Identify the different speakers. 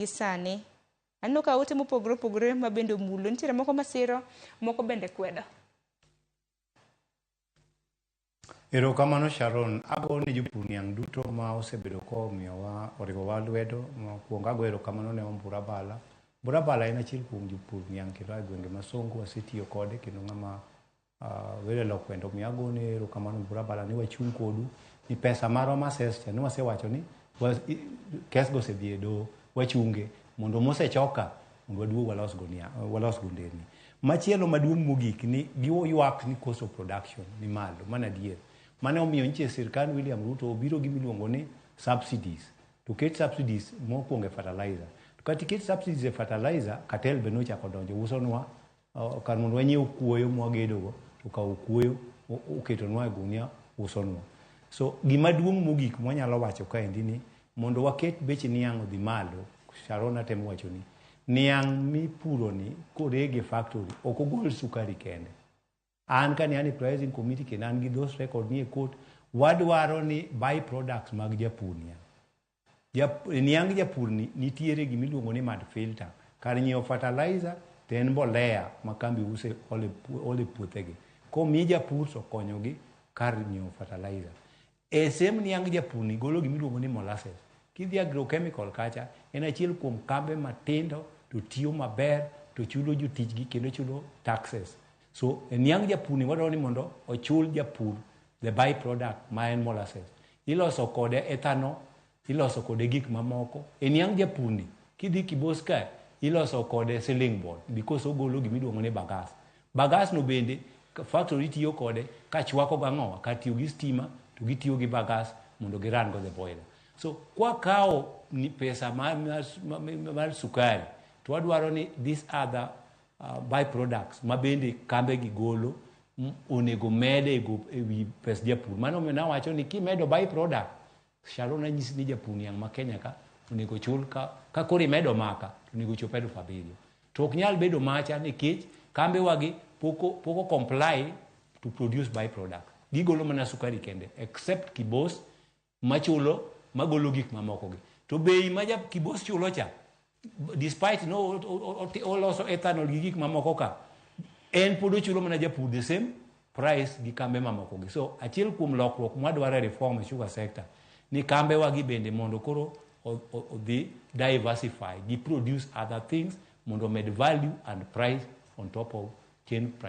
Speaker 1: gi sani. Aneno ka ote mopogore opogore ma bende omulo. Nitiere moko masiro, moko bende kwedo.
Speaker 2: Erokamano Sharon, ago ne jopur niang' duto ma osebedo komiyowa oriwowa lwedo. Mokwongo ago erokamano ne Ombura Bala. Ombura Bala en achiel kuom jopur niang' kendo a e gwenge ma Songo, wasetiyo kode kendo ng'ama Wede Lokwenda omiyo agone erokamano Bura Bala ni wachung' kodu ni pesa marwa ma ses cha ni wasewacho ni wa, kes go osedhi e doho wachunge mondo mosechoka mondo waduog walos go nia, walos go nderni. Machielo maduong' mogik ni giywak ni cost of production ni malo, mano adier. Mane omiyo nyiche sirkand William Ruto obiro gi miluongo ni subsidies. To ket subsidies mokwongo e fertilizer. To kata iket subsidies e fertilizer, cartel be nochako donjo usonwa Kar mondo wanyiew kuoyo mwagedogo, to kawo kuoyo oketonwa e gunia usonwa. So gima duong' mogik mwanyalo wacho kaendi ni mondo waket bech niang' odhi malo, Sharon atemo wachoni, niang' mipuroni korege e factory ok ogol sukari kende. An ka ne an e pricing committee kendo an gi those record ni e court, wadwaro ni by products mag japur niang'. Jap, e niang' japur ni nitiere gima iluongo ni mad filter. Kar nyiewo fertilizer to en mbolea ma kambi use ole, ole puothegi. Komi japur to konyogi kar nyiewo fertilizer. E sehemu niang japurni golo gima iluongo ni molasses. Kidhi agrochemical kacha, en achiel kuom kambe matindo to tiyo maber to chulo jotijgi kendo chulo taxes. So e niang japurni wadwaro ni mondo ochul japur the by product ma en molasses. Iloso kode ethanol Iloso kode gik mamoko. E niang' japurni, kidhi kibos kae, iloso kode ceiling board because ogolo gima iluongo ni bagas. Bagas no bende factory tiyo kode ka chwako go ang'owa kar tiyo gi stima to gitiyo gi bagas mondo gi run go the boiler. So kwa kawo pesa mar, mar, mar sukari to wadwaro ni this other uh, byproducts ma bende kambe gi golo onego mede e wi pes japur. Mano omiyo nawacho ni kimedo byproduct Sharon nanyisi ni japur niang' ma Kenya ka onego chul ka, ka koro imedo maka to onego chop elfu abiriyo to ok nyal bedo macha nikech kambe wagi poko poko comply to produce by product gigolo mana sukari kende except kibos machulo magolo gik mamoko gi to bei ma ja kibos chulo cha despite no oloso ethanol gi gik mamoko ka en pod ochulo mana japur the same price gi kambe mamoko gi so achiel kuom lokruok mwadwaro e reform e sugar sector ni kambe wagi bende mondo koro odhi diversify gi produce other things mondo med value and price on top of chain price